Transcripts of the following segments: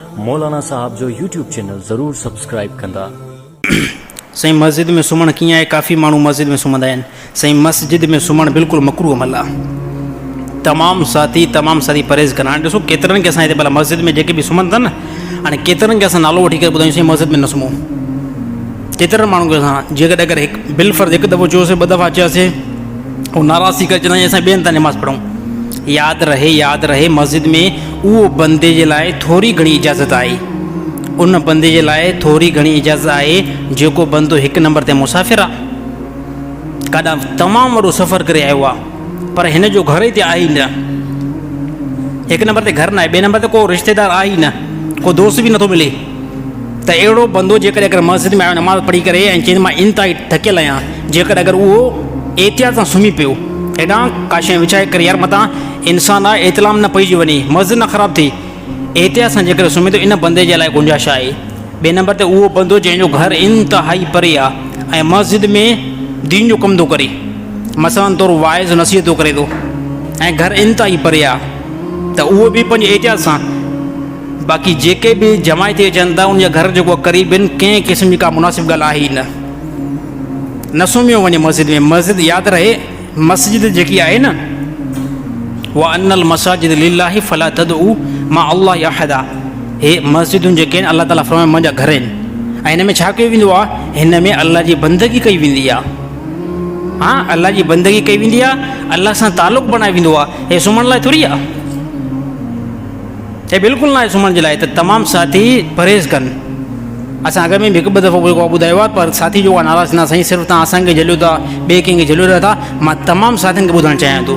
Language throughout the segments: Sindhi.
مولانا صاحب جو يوٽيوب چينل ضرور سبسڪرائيب ڪندا. سائين مسجد ۾ سمهڻ ڪيئن آهي ڪافي ماڻهو مسجد ۾ سمهندا آهن سائين مسجد ۾ سمهڻ بلڪل مڪروه عمل آهي تمام ساٿي تمام ساٿي پرهيز ڪن هاڻي ڏسو ڪيترن کي اسان هتي ڀلا مسجد ۾ جيڪي به سمهن ٿا نه هاڻي ڪيترن کي اسان نالو وٺي ڪري ٻڌايون سائين مسجد ۾ نه سمهو ڪيترن ماڻهن کي اسان جيڪڏهن اگر هڪ بل فرض هڪ دفعو چيوسي ٻه دفعا چياسي هو ناراض ٿي ڪري چوندا آهن اسان ٻين هنڌ ٿا نماز پڙهون ياد رهي ياد رهي مسجد ۾ اهو بندي جي لاء ٿوري گهڻي اجازت آهي. ان بندي جي لاء ٿوري گهڻي اجازت آهي جيڪو بندو هڪ نمبر تي مسافر آ. ڪاڏانهن تمام وڏو سفر ڪري آيو آ. پر هن جو گهر هتي آهي ئي نه. هڪ نمبر تي گهر ناهي، ٻئي نمبر تي ڪو رشتيدار آهي ئي نه، ڪو دوست به نٿو ملي. ته اهڙو بندو جيڪڏهن اگر مسجد ۾ آيو نماز پڙهي ڪري ۽ چئي ته مان انتهائي ٿڪيل آهيان جيڪڏهن اگر اهو احتياط سان سمهي پيو هيڏانهن ڪا شيء وڇائي ڪري يار متان انسان آهي احتلام نه پئجي وڃي مسجد نه خراب ٿئي احتياط سان جيڪڏهن سمهي ٿو ان بندي جي لاء گنجائش آهي ٻئي نمبر تي اهو بندو جنهن جو گهر انتهائي پري آهي ۽ مسجد ۾ دين جو ڪم ٿو ڪري مثلا طور واعظ نصيحت ٿو ڪري ٿو ۽ گهر انتهائي پري آهي ته اهو به پنهنجي احتياط سان باقي جيڪي به جماعي ٿي اچن ٿا ان جا گهر جو ڪو قريبين ڪنهن قسم جي ڪا مناسب ڳالهه آهي ئي نه. نه سمهيو وڃي مسجد ۾ مسجد ياد رهي مسجد جيڪي آهي نه وان المساجد لله فلا تدعو مع الله احدا هي مسجدون جيڪي آهن الله تعالي فرمائي منهنجا گهر آهن ۽ هن ۾ ڇا ڪيو ويندو آهي هن ۾ الله جي بندگي ڪئي ويندي آهي ها الله جي بندگي ڪئي ويندي آهي الله سان تعلق بڻائي ويندو آهي هي سمهڻ لاء ٿوري آهي هي بلڪل ناهي سمهڻ جي لاء ته تمام ساٿي پرهيز ڪن اسان اڳ ۾ به هڪ ٻه دفعو جيڪو ٻڌايو آهي پر ساٿي جيڪو آهي ناراض ٿيندا سائين صرف تان اسان کي جهليو ٿا ٻئي ڪنهن کي جهليو رهيا ٿا مان تمام ساٿين کي ٻڌائڻ چاهيان ٿو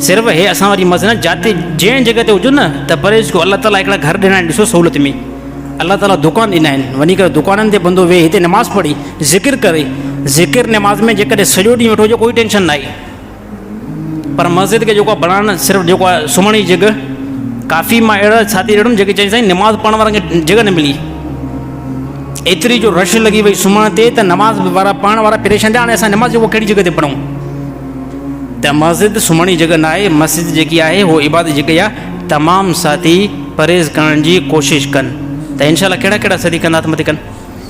صرف هي اسان واري مس نه جاتي جنهن جڳهه تي هجو نه ته پرهيز ڪيو الله تعالٰي هڪڙا گهر ڏنا آهن ڏسو سهولت ۾ الله تعالٰي دڪان ڏنا آهن وڃي ڪري دڪانن تي بندو ويهي هتي نماز پڙهي ذڪر ڪري ذڪر نماز ۾ جيڪڏهن سڄو ڏينهن ويٺو هجي ڪوئي ٽينشن ناهي پر مسجد کي جيڪو بڻائڻ صرف جيڪو آهي سمهڻ جي جڳھ ڪافي ماڻهو اهڙا ساٿي ڏٺم جيڪي چيائين سائين نماز پڙهڻ وارن کي جڳھ نه ملي ايتري جو رش لڳي وئي سمهڻ تي ته نماز وارا پڙهڻ وارا پريشان ٿيا هاڻي اسان نماز جيڪو ڪهڙي جڳھ تي پڙھون ته مسجد سمهڻ جي جڳھ ناهي مسجد جيڪي آهي هو عبادت جي جڳھ آهي تمام ساٿي پرهيز ڪرڻ جي ڪوشش ڪن ته انشاء الله ڪهڙا ڪهڙا ساٿي ڪندا ته مٿي ڪن